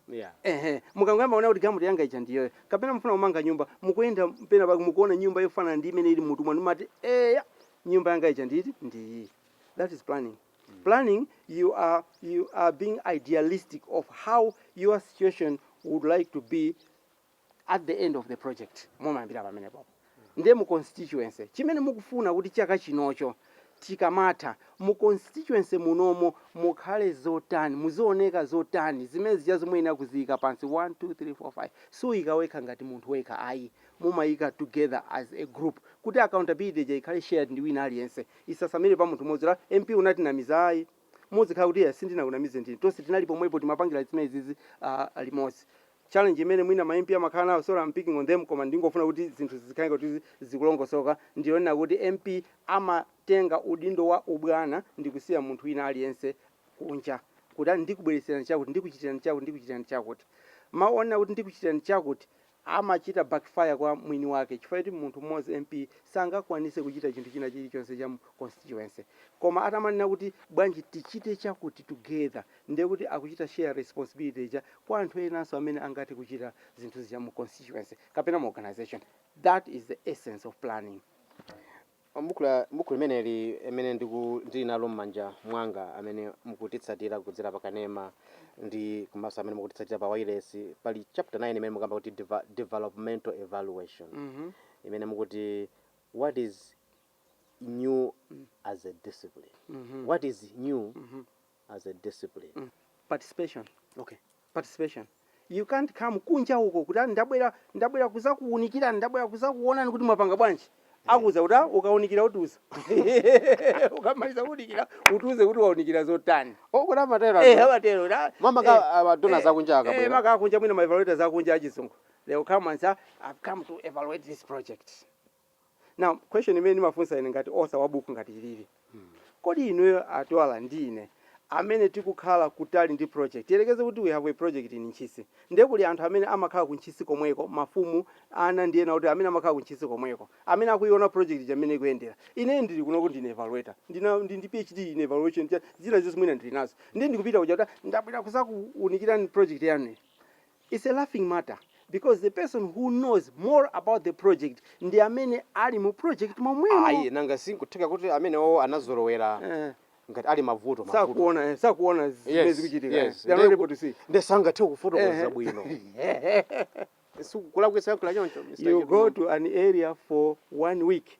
yeah. ehe mukangoyamba kuona kuti galimoto yanga ija ndi iyoyo kapena mufuna kumanga nyumba mukuyenda pena pake mukuona nyumba yofanana ndi imene ili m'mutu mwanu mumati eya nyumba yanga ija nditi ndi iyi that is planning planning you are, you are being idealistic of how your situation would like to be at the end of the project mumayambira pamenepo ndiye mu constituency chimene mukufuna kuti chaka chinocho chikamatha mu constituency munomo mukhale zotani muzioneka zotani zimenezijazo muyenera kuziyika pansi 1 2 3 4 5 suika wekha ngati munthu wekha ayi mumayika together as a group kuti accountability ija ikhale shared ndi wina aliyense isasamire pa munthu mmodzi a mp unatinamiza ayi muzikhala kuti yes sindinakunamize ndine tonse tinali pomwepo timapangira zimenezizi uh, limodzi challenge imene mwina ma MP amakhala nawo, sorry am picking on them, koma ndingofuna kuti zinthu zikhale ngati kuti zikulongosoka, ndi yonena kuti MP amatenga udindo wa ubwana ndikusiya munthu wina aliyense kunja kuti a ndikubweretserani chakuti, ndikuchitirani chakuti, ndikuchitirani chakuti. Mau onena kuti ndikuchitirani chakuti amachita backfire kwa mwini wake chifukwa choti munthu mmodzi, MP, sangakwanitse kuchita chinthu china chilichonse cha mu constituency. Koma atamanena kuti bwanji tichite chakuti together. ndiye kuti akuchita share responsibility ija kwa anthu enanso amene angathe kuchita zinthu zija mu constituency kapena mu organisation. That is the essence of planning. M'bukhu la m'bukhu limeneli limene ndiku ndili nalo m'manja mwanga amene mukutitsatira kudzera pa kanema ndi komanso amene mukutitsatira pa wailesi pali chapter 9 imene mukamba kuti deva, developmental evaluation mm -hmm. imene mukuti what is new as a discipline mm -hmm. what is new mm -hmm. as a discipline. Mm. Participation. Okay. Participation. You can't come kunja uko kuti ah, ndabwera ndabwera kuzakuunikirani ndabwera kuzakuonani kuti mwapanga bwanji eh. akuuza kuti ah, ukaunikira utiuza ukamaliza kuunikira utiuze kuti waunikira zotani okuti oh, amatero eh, amatero mama ka eh, amadona akunja akabwera eh, maka akunja mwina maevaluators akunja achizungu they will come and say i've come to evaluate this project Now question imene ndimafunsa ine ngati author wa buku ngati ilili, kodi inuyo a Twala ndi ine amene tikukhala kutali ndi project, tiyerekeze kuti we have a project in Ntchisi, ndiye kuli anthu amene amakhala ku Ntchisi komweko, mafumu, ana ndi ena otero amene amakhala ku Ntchisi komweko, amene akuyiona project ija mmene ikuyendera. Ineyo ndili kunoko ndine evaluator, ndina, ndili ndi PhD in evaluation, cha, zina zonse mwina ndili nazo, ndiye ndikupita kuja kuti ah, ndabwera kuzakuunikirani project yanuyi. Its a laughing matter because the person who knows more about the project ndi amene ali mu project momwemo. Ayi nanga si nkutheka kuti amenewowo anazolowera Eh. ngati ali mavuto mavuto. Sakuona eh, sakuona zimene Yes, zikuchitika. eh. yes. They are not Nde- able to see. Nde sangathe kufotokoza Eh. bwino. Sikulakwitsa kunena choncho. Mr. You go Chidumani. to an area for one week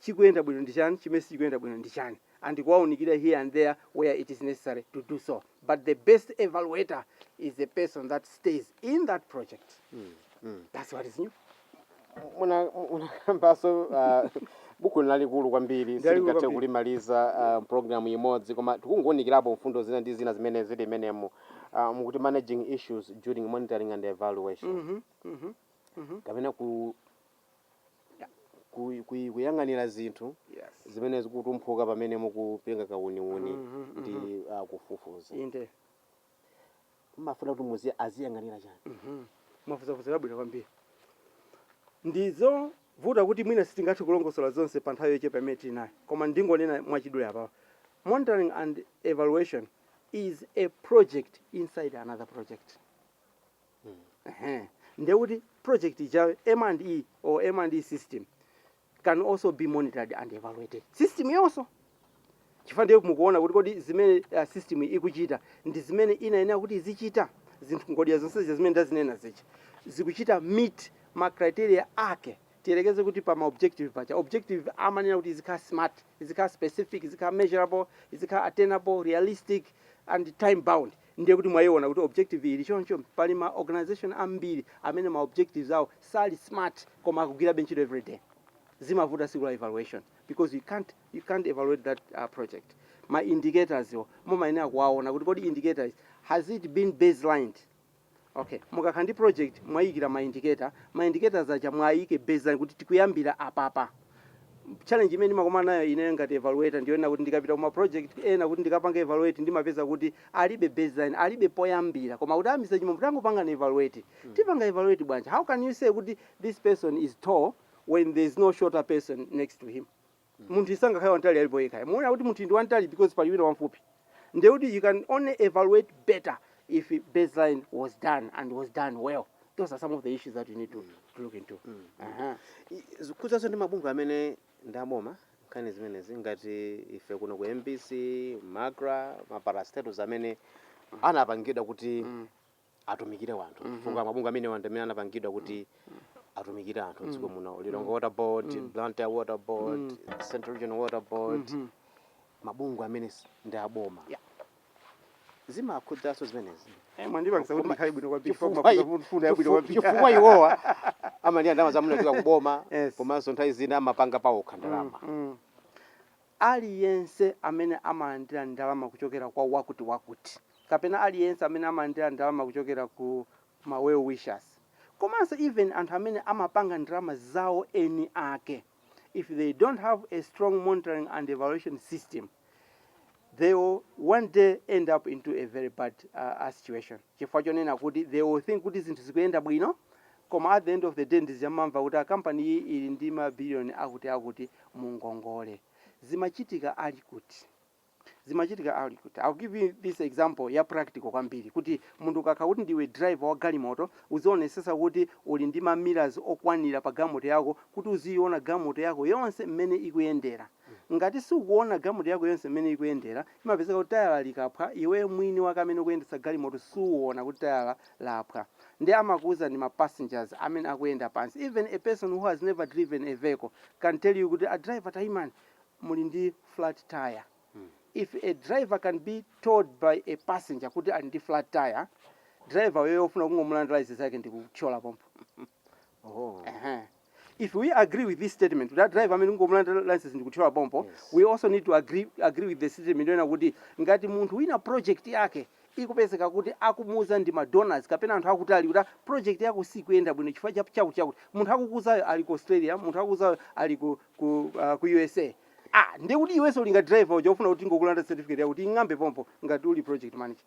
chikuyenda bwino ndi chani, chimene sichikuyenda bwino ndi chani and kuwaunikira here and there where it is necessary to do so but the best evaluator is the person that stays in that project that's what is new. Muna- munakambanso uh, buku ndi lalikulu kwambiri Lalikulu silingathe kwambiri. kulimaliza m'programu imodzi koma tikungounikirapo mfundo zina ndi zina zimene zili mmenemo uh, mukuti managing issues during monitoring and evaluation Mhm, mhm. kapena ku ku, ku, kuyang'anira zinthu yes zimene zikutumphuka pamene mukupanga kauniuni Mhm, ndi mhm. ah, kufufuza inde mumafuna kuti muzi aziyang'anira chani Mhm. Funso labwino kwambiri ndizovuta kuti mwina sitingathe kulongosola zonse pa nthawi yochepa imene tili nayo koma ndingonena mwachidule apawa monitoring and evaluation is a project inside another project ndiye kuti project ija M and E or M and E system can also be monitored and evaluated system yonso chifukwa ndiye mukuona kuti kodi zimene uh, system ikuchita ndi zimene inayenera kuti izichita zinthu ngodya zonse zimene ndazinena zija zikuchita meet ma criteria ake tiyerekeze kuti pa ma objective paja objective amanena kuti izikhala smart izikhala specific izikhala measurable izikhala attainable realistic and time bound Ndiye kuti mwaiona kuti objective ili choncho? Pali ma organization ambiri amene ma objectives awo sali smart koma akugwirabe ntchito everyday. Zimavuta tsiku la evaluation because you can't, you can't evaluate that uh, project. Ma indicators wo mumayenera kuwaona kuti kodi indicators has it been baselined? Ok mukakhala ndi project mwayiyikira ma indicator, ma indicators aja mwayika baseline kuti tikuyambira apapa. Challenge imene ndimakumana nayo ineyo ngati evaluator ndiyonena kuti ndikapita ku ma project ena kuti ndikapange evaluate ndimapeza kuti alibe baseline, alibe poyambira koma kuti ah Mr Chimombo tangopangani evaluate. Tipanga evaluate bwanji? How can you say kuti this person is tall when there is no shorter person next to him? munthuyu sangakhale wamtali ali payekha, mumaona kuti munthuyu ndi wamtali because pali wina wamfupi ndiye kuti you can only evaluate better if baseline was done and was done well those are some of the issues that you need to, to look into Aha. I- zikukhuzanso ndi mabungwe amene ndi aboma nkhani zimenezi ngati ife kuno ku mbc macra maparastatus amene anapangidwa kuti atumikire wanthu mm -hmm. chifukwa mabungwe amene wanthu amene anapangidwa kuti atumikire anthu m'dziko muno Lilongwe Water Board, mm. Blantyre Water Board, mm. Central Regional Water Board mm -hmm. mabungwe amene ndi aboma yeah. zimakhudzanso zimenezi eh, chifukwa iwowa amalandira ndalama za munzika kuboma komanso nthawi zina amapanga pawokha ndalama mm, mm. Aliyense amene amalandira ndalama kuchokera kwa wakutiwakuti kapena aliyense amene amalandira ndalama kuchokera ku ma well-wishers komanso even anthu amene amapanga ndalama zawo eni ake if they don't have a strong monitoring and evaluation system they will one day end up into a very bad uh, uh, situation chifukwa chonena kuti they will think kuti zinthu zikuyenda bwino Koma at the end of the day ndiye umamva kuti a company iyi ili ndi ma billion akuti akuti mu ngongole. Zimachitika ali kuti? Zimachitika ali kuti? I'll give you this example ya practical kwambiri kuti munthu ukakhala kuti ndiwe driver wa galimoto uzionetsetsa kuti uli ndi ma mirrors okwanira pa galimoto yako kuti uziyiona galimoto yako yonse mmene ikuyendera. Ngati siukuona galimoto yako yonse mmene ikuyendera, chimapezeka kuti tayala likaphwa iweyo mwini wake amene ukuyendetsa galimoto suuona kuti tayala laphwa nde amakuuza ndi ma passengers amene akuyenda pansi even a person who has never driven a vehicle can tell you kuti a driver taimani muli ndi flat tyre. If a driver can be told by a passenger kuti ali ndi flat tyre, driver uyoyo ofuna kungomulandira license yake ndikuthyola pompo. Oho. Ehe. If we agree with this statement kuti a driver amene tingomulandira license ndikuthyola pompo, we also need to agree, agree with the statement yonena kuti ngati munthu wina project yake ikupezeka kuti akumuuza ndi ma donors kapena anthu akutali kuti "Ah, project yako sikuyenda bwino chifukwa cha chakuti chakuti munthu akukuuzayo ali ku Australia, munthu akukuuzayo ali ku, ku, ah, ku USA. Ah, ndiye kuti iwenso uli ngati driver uja ofuna kuti tingokulanda certificate yako kuying'amba pompo ngati uli project manager.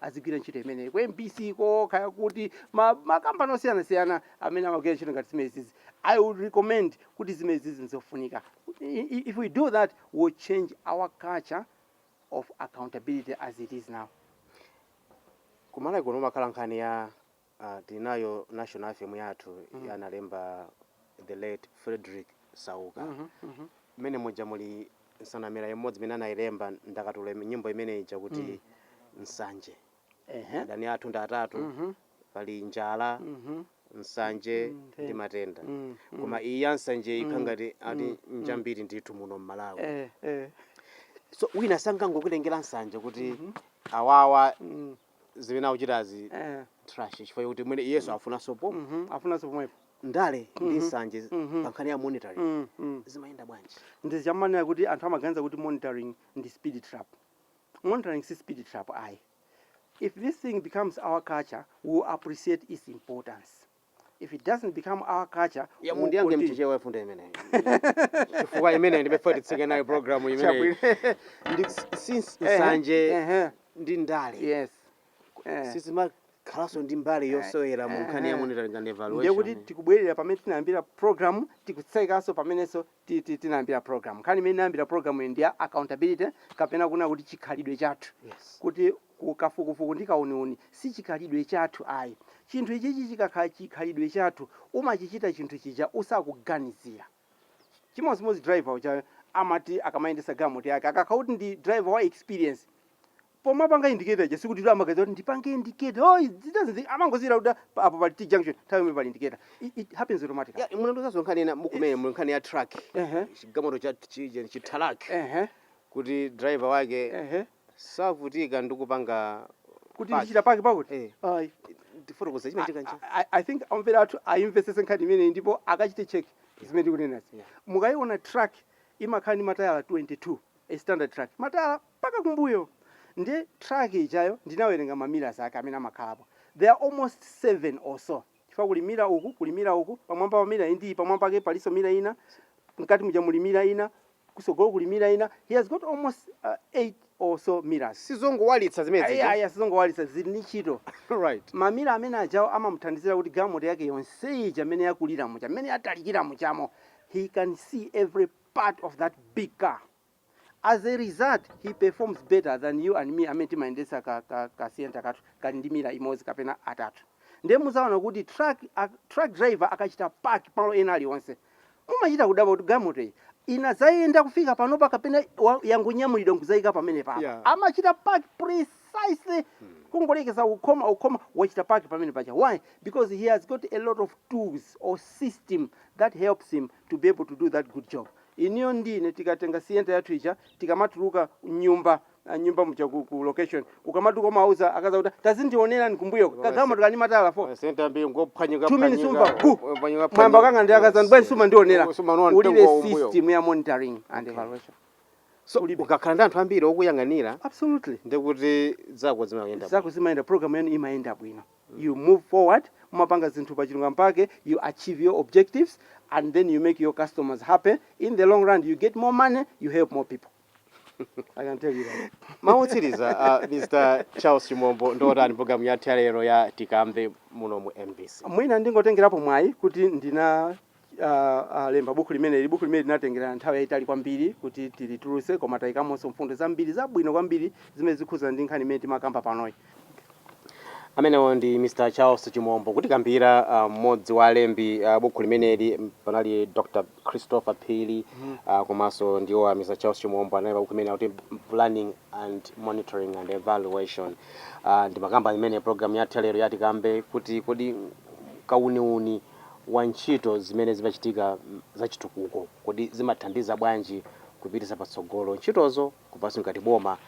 azigwira ntchito imeneyi ku mbc ko kaya kuti ma- makampani osiyanasiyana amene amagwira ntchito ngati zimenezizi i would recommend kuti zimenezizi nzofunika I- i- if we do that we will change our culture of accountability as it is now kumalawi kuno mumakhala nkhani ya Aaa tili nayo national anthem yathu ija analemba the late Fredrick Sauka mmene muja muli nsanamira imodzi imene anailemba ndakatulo ime- nyimbo imene ija kuti nsanje Ehe. adani athu ndi atatu pali njala nsanje ndi matenda koma iyi ya nsanje ikukhala ngati ndiyambiri ndithu muno mmalawi Eh, eh. so wina sangangokulengera nsanje kuti awawa Mm. zimene akuchitazi eh. trash chifukwa choti mwina iyenso afunanso po mm -hmm. afunanso pomwepo ndale mm -hmm. ndi mhm. nsanje mm -hmm. pankhani ya monitoring mm -hmm. zimayenda bwanji ndi chimene ndimanena kuti anthu amaganiza kuti monitoring ndi speed trap monitoring si speed trap ayi if this thing becomes our culture we will appreciate its importance if it doesn't become our culture ya we will mundiyankhe continue. mchichewa mfundo imeneyo chifukwa imeneyo ndikufuna titsike nayo programu imeneyo Chabwino. ndi s- nsanje Ehe, nsanje ehe, ndi ndale yes Eh. sizimakhalanso ndi mbali yosewera mu nkhani ya Ehe. monitoring and ndiye kuti evaluation tikubwerera pamene tinayambira program tikutsekanso pamenenso titi tinayambira program nkhani imene inayambira program iyi ndi ya accountability kapena kunena kuti chikhalidwe chathu Yes. kuti kafukufuku ndi kauniuni si chikhalidwe chathu ayi chinthu ichichi chikakhala chikhalidwe chathu umachichita chinthu chija usakuganizira chimodzimodzi driver uja amati akamayendesa galimoto yake akakhala kuti ndi driver wa experience pomapanga indicate aja sikuti kuti amaganiza kuti ndipange indicate oh it doesn't think amangozira kuti pa- apo pali t junction nthawi yomwe pali indicator it, it happens automatically Ya, munanenazo nkhani ina mukunena mu nkhani ya truck Ehe. chigamoto cha chi- chithalaki ehe kuti driver wake ehe savutika ndi kupanga kuti Park. ndichita park pakuti Eh. ayi ndifotokoza chimene chikanja I- I- I think omvera athu ayimvesese nkhani imeneyi ndipo akachite check zimene ndikunenazi Yeah. mukayiona truck imakhala ndi matayala 22 a standard truck matayala mpaka kumbuyo ndiye truck ijayo ndinawerenga ma mirrors ake amene amakhalapo there are almost 7 or so chifukwa kuli mirror uku kuli mirror uku pamwamba pa mirror indiyi pamwamba pake palinso mirror ina mkati muja muli mirror ina kusogolo kuli mirror ina he has got almost uh, 8 or so mirrors sizongowalitsa zimene zija ayaya sizongowalitsa zili ndi ntchito right mamira amene ajawo amamuthandizira kuti galimoto yake yonse ija mmene yakulira muja mmene yatalikira mujamo he can see every part of that big car As a result he performs better than you and me amene timayendetsa ka ka ka sienta kathu kali ndi mira imodzi kapena atatu. Ndiye muzaona kuti truck a truck driver akachita park malo ena alionse mumachita kudabwa kuti galimoto iyi inadzayenda kufika panopa kapena wa- yangonyamulidwa nkudzaika pamenepa. Yeah. Amachita park precisely kungolekeza kukhoma ukhoma wachita park pamene paja. Why? Because he has got a lot of tools or system that helps him to be able to do that good job. Inuyo ndi ine tikatenga sienta yathu ija tikamatuluka mnyumba nyumba muja ku, ku location ukamatuka umawauza akazi akuti tazindionerani kumbuyoko kagalimoto kali ndi matayala 4 masienta ambiri ngophwanyika 2 minutes umva phwanyika bu phwanyika mwayamba kukangana ndi akazi anu bwanji yes sumandionera sumaona mtengo ulibe wakumbuyo system ya monitoring and okay evaluation so ulibe ukakhala ndi anthu ambiri okuyang'anira absolutely ndekuti zako zimayenda bwino zako zimayenda program yanu imayenda bwino you move forward mumapanga zinthu pachilungamo pake you achieve your objectives and then you make your customers happy in the long run you get more money you help more people I can tell you that. mawu otsiriza uh, mr charles chimombo ndiotani programu yathu ya lero ya tikambe muno mu mbc mwina ndingotengerapo mwayi kuti ndina lemba buku limeneli. Buku limeneli linatengera nthawi yayitali kwambiri kuti tilitulutse koma tayikamonso mfundo zambiri zabwino kwambiri zimene zikhudzana ndi nkhani imene timakamba panoyi. Amenewo ndi Mr. Charles Chimombo kutikambira ah, mmodzi wa alembi ah, buku limeneli m, panali Dr. Christopher Phiri ah, komanso ndiwo a Mr. Charles Chimombo analemba buku limene akuti Planning and Monitoring and Evaluation Ah, ndimakamba imene program yathu ya lero ya tikambe kuti kodi kauniuni wa ntchito zimene zimachitika zachitukuko, kodi zimathandiza bwanji kupititsa patsogolo ntchitozo, komanso ngati boma,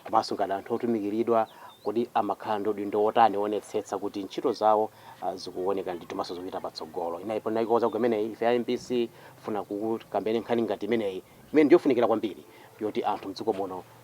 komanso ngati anthu otumikiridwa, kodi amakhala ndi udindo wotani woonetsetsa kuti ntchito zawo zikuwoneka ndithu komanso zikupita patsogolo. Ndiye nkhani imeneyi, ife a mbc tikufuna kukambirana nkhani ngati imeneyi, imene ndiyofunikira kwambiri yoti anthu m'dziko muno